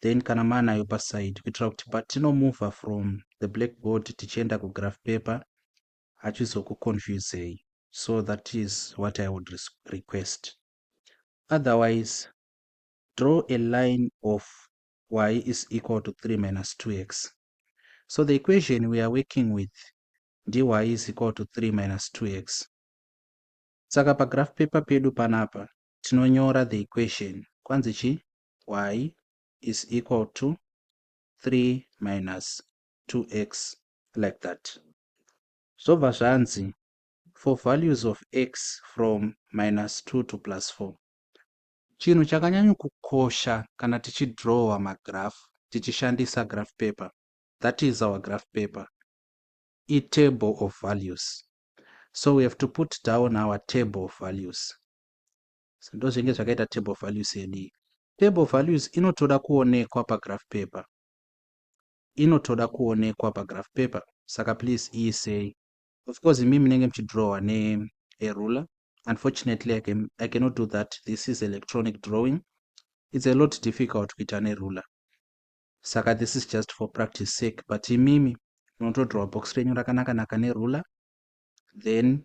then kana maanayo paside kuitira kuti patinomover from the blackboard tichienda kugraph paper hachizokuconfusei so that is what i would request otherwise draw a line of y is equal to 3 minus 2x so the equation we are working with dy is equal to 3 minus 2x saka pagraph paper pedu panapa tinonyora the equation kwanzi chii y is equal to 3 minus 2x like that. Zvobva zvanzi for values of x from minus 2 to plus 4. Chinhu chakanyanyokukosha kana tichidrowa magraph tichishandisa graph paper, that is our graph paper, itable of values. So we have to put down our table of values. So ndozvinenge zvakaita table of values yedu iyi. Table of values inotoda kuonekwa pagraph paper. Inotoda kuonekwa pagraph paper. Saka please iisei. Of course imi munenge muchidrawer ne a ruler. Unfortunately I, can, I cannot do that. This is electronic drawing. It's a lot difficult kuita ne ruler. Saka this is just for practice sake but imimi munotodrawer box renyu rakanaka naka ne ruler then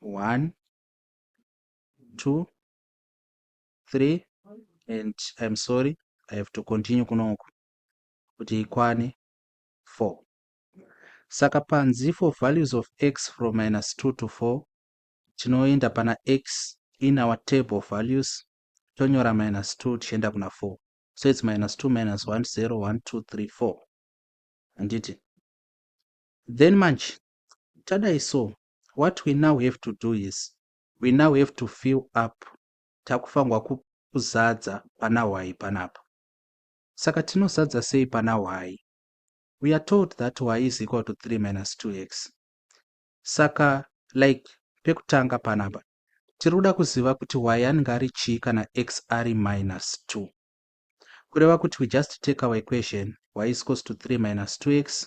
one two three and im sorry i have to continue kunoku kuti ikwane four saka panzi for values of x from minus two to four tinoenda pana x in our table of values tonyora minus two tichienda kuna four so its minus two minus one zero one two three four handiti then manje tadai so what we now have to do is we now have to fill up takufanirwa kuzadza pana hwai panapa saka tinozadza sei pana hwai we are told that y is equal to 3 minus 2x saka like pekutanga panapa tiri kuda kuziva kuti y anenge ari chii kana x ari minus 2 kureva kuti we just take our equation y is equals to 3 minus 2x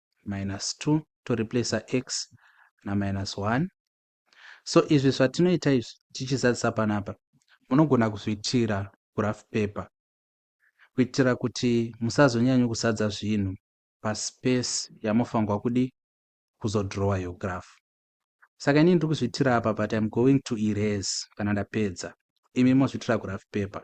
minus 2 to replacer x na minus 1 so izvi zvatinoita izvi tichizadzisa panapa munogona kuzviitira graph paper kuitira kuti musazonyanyo kuzadza zvinhu paspace yamofanirwa kudi kuzodrowa yo graph saka inini ndiri kuzviitira apa but im going to erase kana ndapedza imi mozviitira graph paper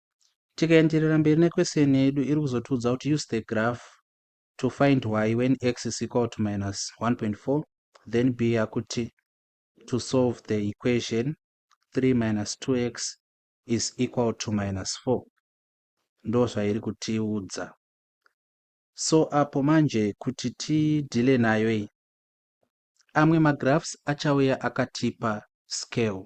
Tikaenderera mberi ne question yedu iri kuzotiudza kuti use the graph to find y when x is equal to minus 1.4 then b yakuti to solve the equation 3 minus 2x is equal to minus 4 ndo zvairi kutiudza so apo manje kuti tidhile nayo iyi amwe magraphs achauya akatipa scale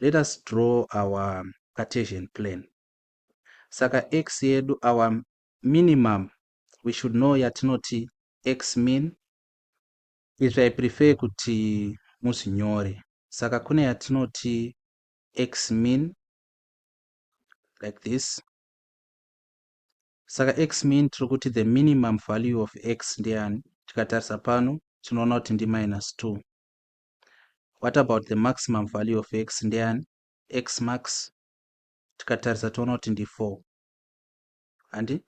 let us draw our Cartesian plan. Saka x yedu our minimum we should know yatinoti x min is I prefer kuti muzvinyore. Saka kune yatinoti x min like this. Saka x min tiri kuti the minimum value of x ndeyani? Tikatarisa pano tinoona kuti ndi minus 2. what about the maximum value of x ndeyani x max tikatarisa toona kuti ndi 4 handi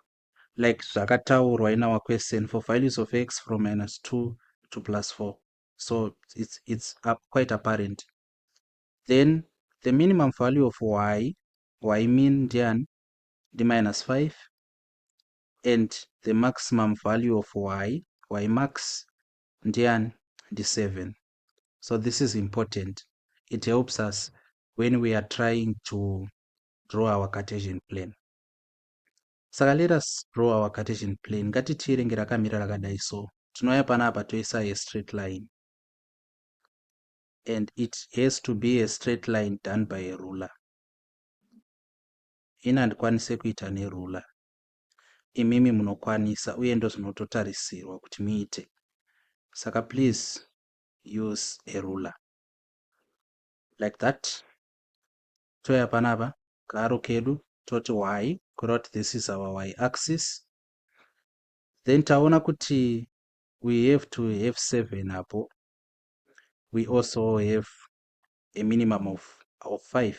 like zvakataurwa in our question for values of x from minus 2 to plus 4 so it's, it's up quite apparent then the minimum value of y y mean ndiyani ndi minus 5 and the maximum value of y y max ndiani ndi seven so this is important it helps us when we are trying to draw our cartesian plan saka let us draw our cartesian plan ngatitii renge rakamira rakadai so tinouya pana apa toisa a straight line and it has to be a straight line done by a ruler ini handikwanise kuita neruler imimi munokwanisa uye ndozvinototarisirwa kuti muite saka please use a ruler like that toya panapa kaaro kedu toti y kureva kuti this is our y axis then taona kuti we have to have seven apo we also have a minimum of, of five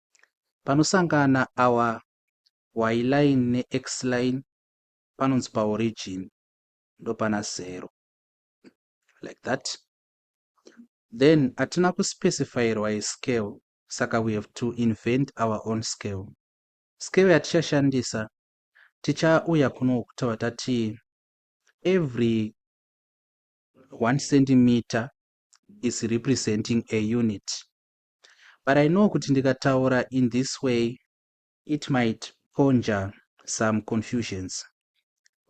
Panosangana our y-line nexline panonzi paorigin ndopana zero like that then atina kuspecifyirwa a scale saka we have to invent our own scale scale yatichashandisa tichauya kuno kutaura tati every one centimeter is representing a unit but I know kuti ndikataura in this way it might conjure some confusions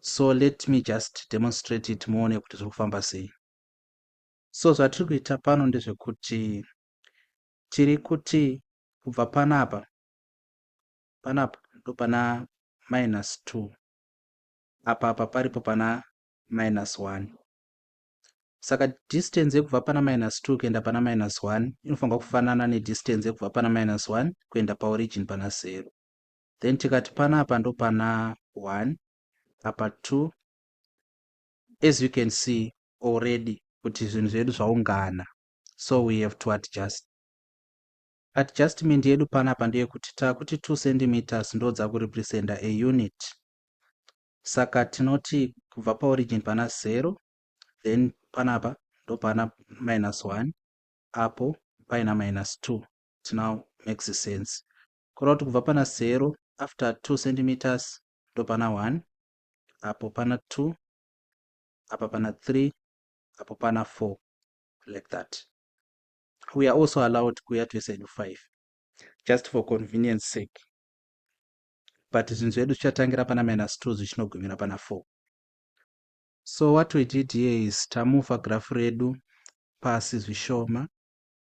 so let me just demonstrate it muone kuti zviri kufamba sei. So zvatiri kuita pano ndezvekuti tiri kuti kubva panapa panapa ndopana minus 2 apa apa paripo pana minus 1 Saka distance yekubva pana minus 2 kuenda pana minus 1 inofanirwa kufanana nedistance yekubva pana minus 1 kuenda paorigin pana 0. Then tikati pana apa ndo pana 1 apa 2 as you can see already kuti zvinhu zvedu zvaungana so we have to adjust adjustment yedu panapa ndeyekuti takuti 2 centimeters ndodzakurepresenta a unit Saka tinoti kubva paorigin pana zero then panapa ndopana minus one apo paina minus two it now makes sense kureva kuti kubva pana zero after two centimeters ndopana one apo pana two apa pana three apo pana four like that we are also allowed kuuya twese nedu five just for convenience sake but zvinhu zvedu zvichatangira pana minus 2 zvichinogumira pana 4 so what we did here is tamufa graph redu pasi zvishoma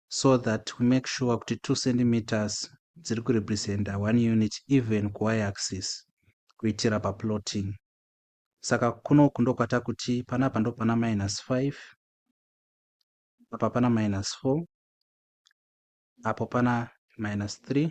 so that we make sure kuti 2 centimeters dziri kurepresenta 1 unit even kuy axis kuitira paplotting saka kunoku ndokwata kuti panapa ndopana minus 5 apa pana minus 4 apo pana minus 3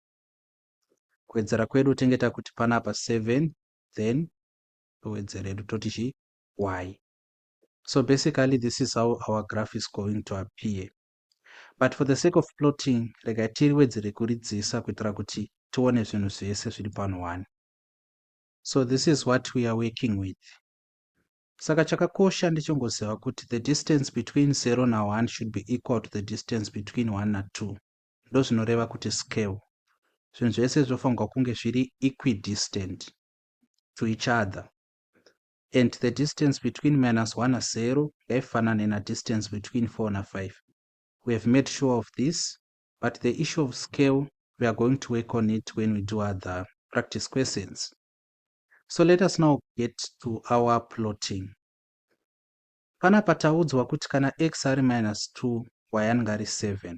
kuwedzera kwedu tenge takuti panapa 7 then towedzera hedu toti chii y so basically this is how our graph is going to appear but for the sake of plotting regai tiriwedzere kuridzisa kuitira kuti tione zvinhu zvese zviri pano one so this is what we are working with saka chakakosha ndechongoziva kuti the distance between 0 na1 should be equal to the distance between 1 na2 ndozvinoreva kuti scale. Zvinhu zvese zvofanirwa kunge zviri equidistant to each other and the distance between minus 1 na 0 ngaifanane na distance between 4 na 5. We have made sure of this but the issue of scale we are going to work on it when we do other practice questions. So let us now get to our plotting. Panapa taudzwa kuti kana x ari minus 2 y anenge ari 7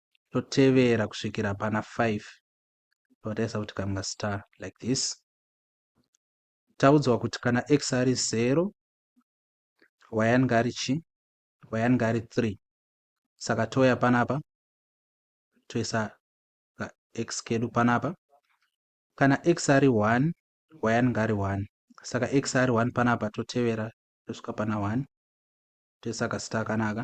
totevera kusvikira pana 5 totarisa kuti kama star like this taudzwa kuti kana x ari 0 y anenge ari chi y anenge ari 3 saka touya panapa toisa ka x kedu panapa kana x ari 1 y anenge ari 1 saka x ari 1 panapa totevera tosvika pana 1 toisa kasita kanaka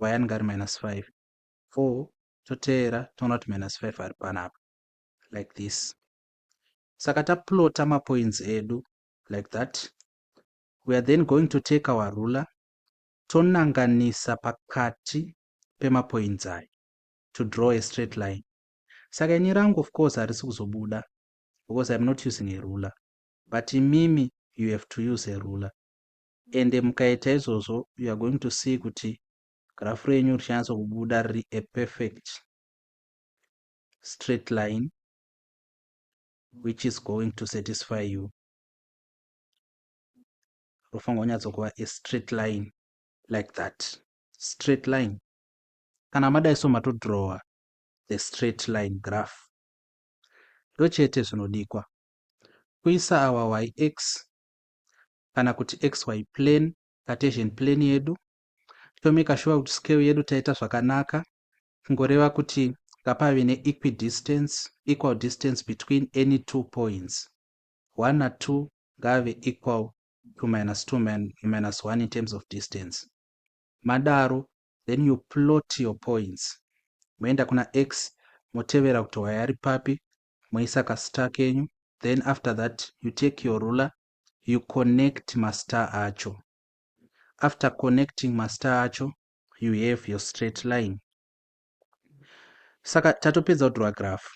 y anenge ari minus 5 for toteera toona kuti minus 5 ari panapa like this saka taplota mapoints edu like that we are then going to take our ruler tonanganisa pakati pemapoints ayo to draw a straight line saka ini rangu of course harisi kuzobuda because iam not using a ruler but imimi you have to use a ruler Ende mukaita izvozvo you are going to see kuti graph renyu richanyatso kubuda riri a perfect straight line which is going to satisfy you. Rofanirwa kunyatso kuva a straight line like that. Straight line. Kana madai so matodrawer the straight line graph. Ndochete zvinodikwa. Kuisa our yx kana kuti xy plane, Cartesian plane yedu tomeka shuwa kuti scale yedu taita zvakanaka kungoreva kuti ngapave neequidistance equal distance between any two points 1 na 2 ngave equal to minus 2 min, minus 1 in terms of distance madaro then you plot your points moenda kuna x motevera kuti wayari papi moisa kasita kenyu then after that you take your ruler you connect mastar acho after connecting mastar acho you have your straight line saka tatopedza kudraw graph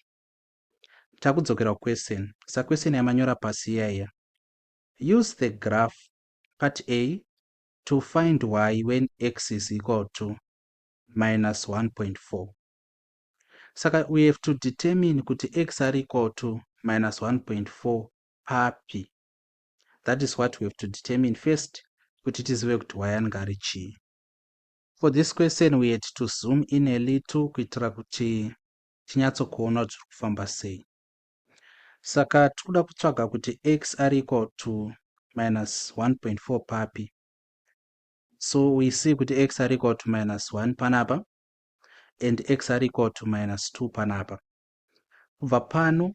takudzokera kuquestion sa question yamanyora pasi iya iya use the graph part a to find y when x is equal to minus 1.4 saka we have to determine kuti x are equal to minus 1.4 papi that is what we have to determine first kuti tizive kuti wayan ngari chii for this question we had to zoom in a little kuitira kuti tinyatsokuona kuti tiri kufamba sei saka tiri kuda kutsvaga kuti x ari equal to minus 1.4 papi so we see kuti x ari equal to minus 1 panapa and x ari equal to minus 2 panapa kubva pano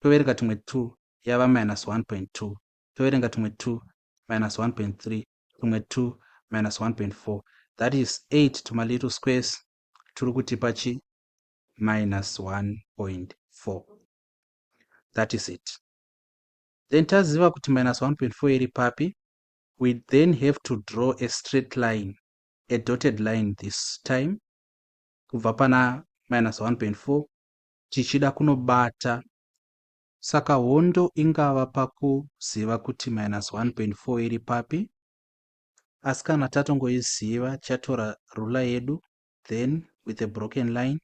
toverenga tumwe two yava minus 1.2 toverenga tumwe two minus 1.3 tumwe two minus 1.4 that is 8 tuma little squares turi kutipa chi minus 1.4 that is it then taziva kuti minus 1.4 iri papi we then have to draw a straight line a dotted line this time kubva pana minus 1.4 chichida kunobata saka hondo ingava pakuziva kuti minus 1.4 iri papi asi kana tatongoiziva tichatora rula yedu then with a broken line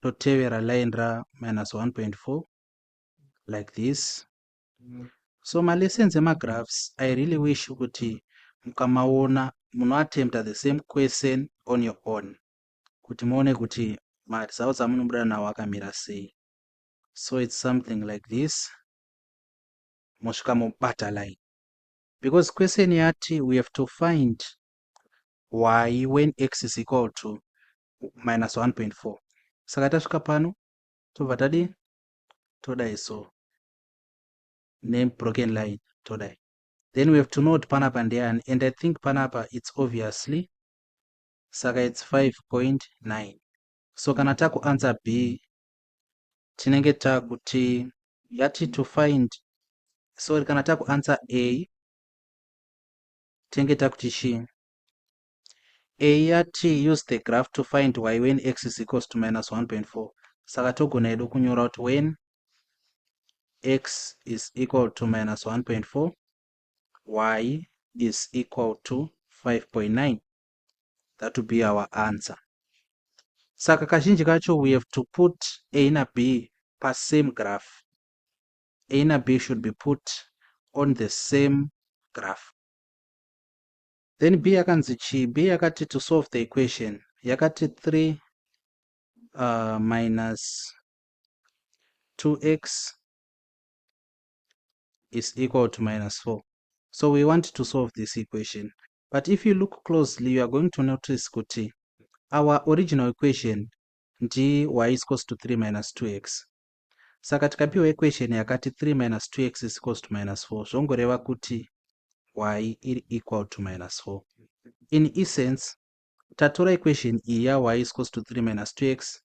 totevera line ra minus 1.4 like this so malessons emagraphs i really wish kuti mukamaona munoattempta the same question on your own kuti muone kuti ma results amunobuda nawo akamira sei so its something like this mosvika mobata line because question yati we have to find y when x is equal to minus 1.4 saka tasvika pano tobva tadi todai so nebroken line todai then we have to know kuti panapa ndeyani and i think panapa its obviously saka its 5.9 so kana taku answer b tinenge takuti yati to find sorry kana taku answer a tinenge takuti chii a yati use the graph to find y when x is equals to minus 1.4 saka togona yedu kunyora kuti when x is equal to minus 1.4 y is equal to 5.9 that will be our answer saka kazhinji kacho we have to put a na b pasame graph a na b should be put on the same graph then b yakanzi chii b yakati to solve the equation yakati 3 uh, minus 2x is equal to minus 4 so we want to solve this equation but if you look closely you are going to notice kuti our original equation ndi y is equals to 3 minus 2x saka tikapiwa equation yakati 3 minus 2x is equals to minus 4 zvongoreva kuti y iri equal to minus 4 in essence tatora equation iyi ya y is equals to 3 minus 2x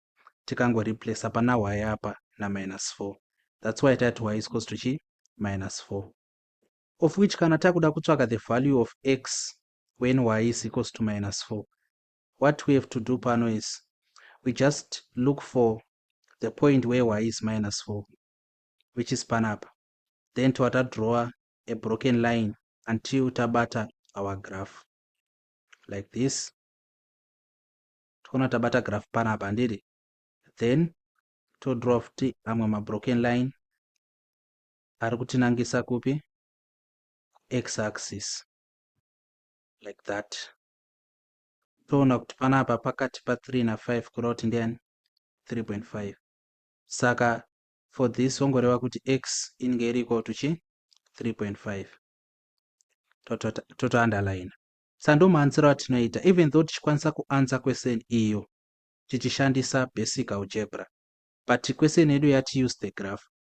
tikangoreplace pana y apa na minus 4 that's why tati y is equals to chi minus 4 Of which kana takuda kutsvaka the value of x when y is equals to minus 4 what we have to do pano is we just look for the point where y is minus 4 which is panapa then toa tadrawer a broken line until tabata our graph like this toona tabata graph panapa handiri then todraw futi amwe mabroken line ari kutinangisa kupi x axis like that toona kuti panapa pakati pa 3 na 5 kuda kuti ndiani 3.5 saka for this wongoreva kuti x inenge iri equal to chi 3.5 totounderline sandomaanziro atinoita even though tichikwanisa kuansa question iyo tichishandisa basic algebra but question yedu yati use the graph